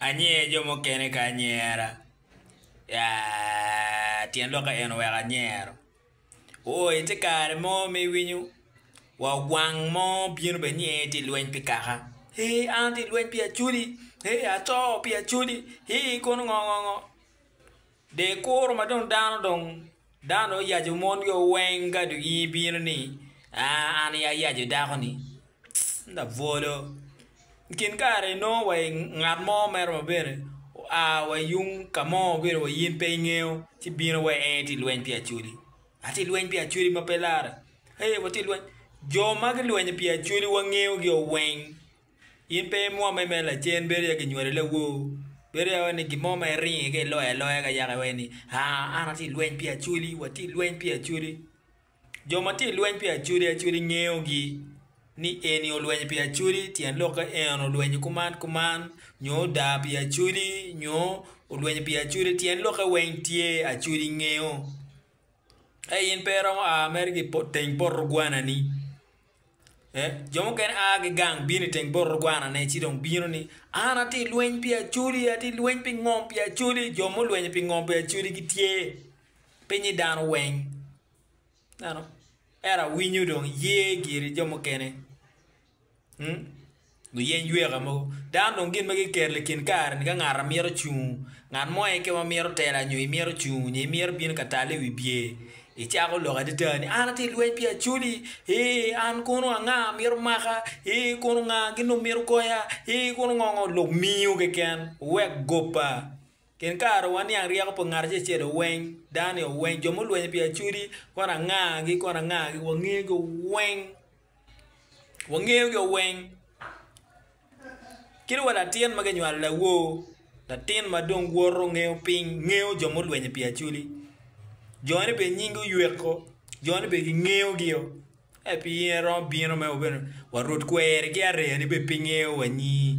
Anyer jo mukene ka anyera tyen lok eni oweko anyero tye kare mo ma iwinyo wa gwang mo obino bed ni en aye tye ka lweny pi kaka an atye ka lweny pi acholi atoo pi acholi kono ngo ngo ngo. Dee kuro ma dong dano dong dano dong oyaco mon yo weng ka dong in ibino ni aa an aye ayaco dako ni in labwolo i kin kare inongo wa ngat mo mere wa bene oa wa yung ka mo ma bedo wai in pe ingeyo ci bino wa en aye tye ka lweny pi acholi atye ka lweny pi acholi ma pe lare ee watye ka lweny jo ma gilwenyo pi acholi wangeyo gi weng In pe imwomme me lacen bedo ya ginywali lawor, bedo ya ni gin mo ma iringo iye ka iloyo aloya ka yaka iwaci ni aa an atye ka lweny pi Acholi, watye ka lweny pi Acholi. Jo ma tye ka lweny pi Acholi, Acholi ngeyogi ni eni olwenyo pi Acholi tyen lokke en olwenyo kuman kuman nyo odar pi Acholi nyo olwenyo pi Acholi tyen lokke weng tye Acholi ngeyo. Ka in pe iromo a mere ki i teng poto gwanani. Jo mukene a ki gang bino i teng botoro gwanane ci dong bino ni, 'An atye ka lweny pi Acodi, atye ka lweny pi ngom pi Acodi. Jo ma olwenyo pi ngom pi Acodi gitye pinye dano weng. Ento awinyo dong iye giri jo mukene. Luyeny yweka mogo dano dong gin ma gikelo i kin kare-ni ka ngat amito cung, ngat mo aye keken ma mito tela nyo imito cung nyo imito bino ka talle i wi bye, icako lok adada ni an atye ka lweny pi Acholi ee an kono anga mito maka ee kono nga gin dong mito goya ee kono ngo ngo lok mingo keken wuwek goba. Kin kare waniang ryeko pa ngat acel acel oweng dano-ni oweng jo ma olwenyo pi Acholi kono angagi kono angagi wangeyogi weng. wangeyo jo weng kit wa latin ma kinywalo lawor latin ma dong woto ngeyo piny ngeyo jo mulwenyo pi acholi jo ni bene nyingi oyweko jo ni bene kingeyo gi o ento pien en romo bino me wa bene warut kwergi areya ni bene pe ngeyo wa nyi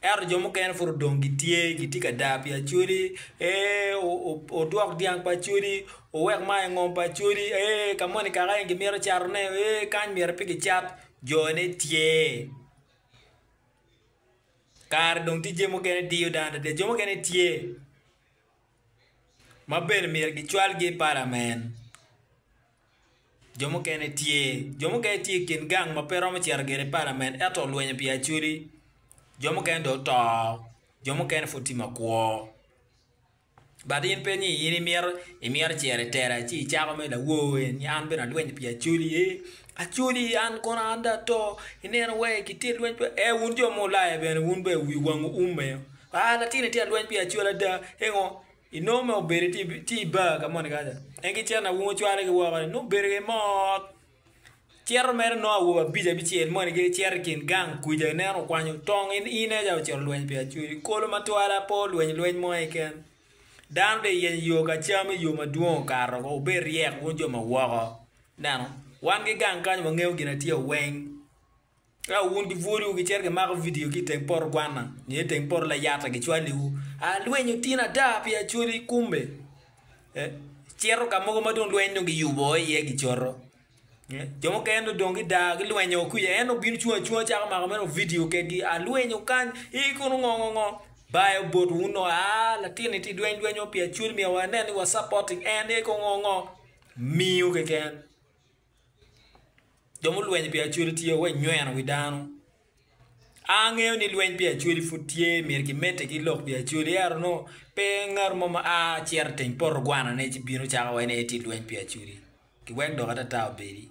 Ento jo mukene pud odong gitye, gitye ka dar pi Acholi, ee, odwok dyang pa Acholi, owek maa i ngom pa Acholi, ee, ka moni kaka en gimito catone, ee, kany myero pe gicat. Jone tye. Kare dong ticce mukene diyo dano adada. Jo mukene tye ma bene myero gicwalgi i palamen. Jo mukene tye jo mukene tye i kin gang ma pe romo cito gire i palament ento olwenyo pi Acholi jo mukene dong oto jo mukene pud tye ma kwo but in pe ni in imito imito ciro i tela ci icako mere lawor en ni an bene alwenyo pi Acholi ee Acholi an kono an dong ato ineno wa kitye ka lweny ee wun jo ma ulaya bene wun bene wiwu wang oume oo aa latinni tye ka lweny pi Acholi ada engo. I nongo ma obele tye i bar ka moni kaca, en ki cen awungu cwale ki woko ni, nongo bedo ki mot. Cito mere nongo awobe abic abicel moni gin gicito i kin gang kwica ineno okwanyo tong in ine ca ocito lweny pi acweli. Kolo ma twala pe olweny lweny mo keken. Dano dong iyenyo i yo ka cam i yo madwong okato woko wubed ryek wun jo ma woko. Ineno? Wan ki gang kany wangeyo gin ma tye weng. Ka wun ki bworiwu gicito gimako vidio ki i teng poto gwanna nyo i teng poto layata, gicwaliwu. A Lweny otino ada pi Acholi kumbe. Eh, Cito ka mogo ma dong lweny dong giyubo iye gicoto. Eh, Jo mukene dong dong gidaa gilwenyo wa kuca. En obino cung acunga cako mako meno vidio kedgi. A Lweny okany, i kono ngo ngo ngo. Bayo bot wun dong, aa latinni ti lweny lwenyo pi Acholi myero wanen ni wa supporting en, i kono ngo ngo. Miyo keken. Jo mulwenyo pi Acholi tye wa i nyweno wi dano. Angeyo ni lweny pi Acholi pud tye myero kimedde ki lok pi Acholi ento nongo pe ngat mo ma a cito i teng poto gwanane ci bino cako waci ni en tye ka lweny pi Acholi. Kiwek dok atata obedi.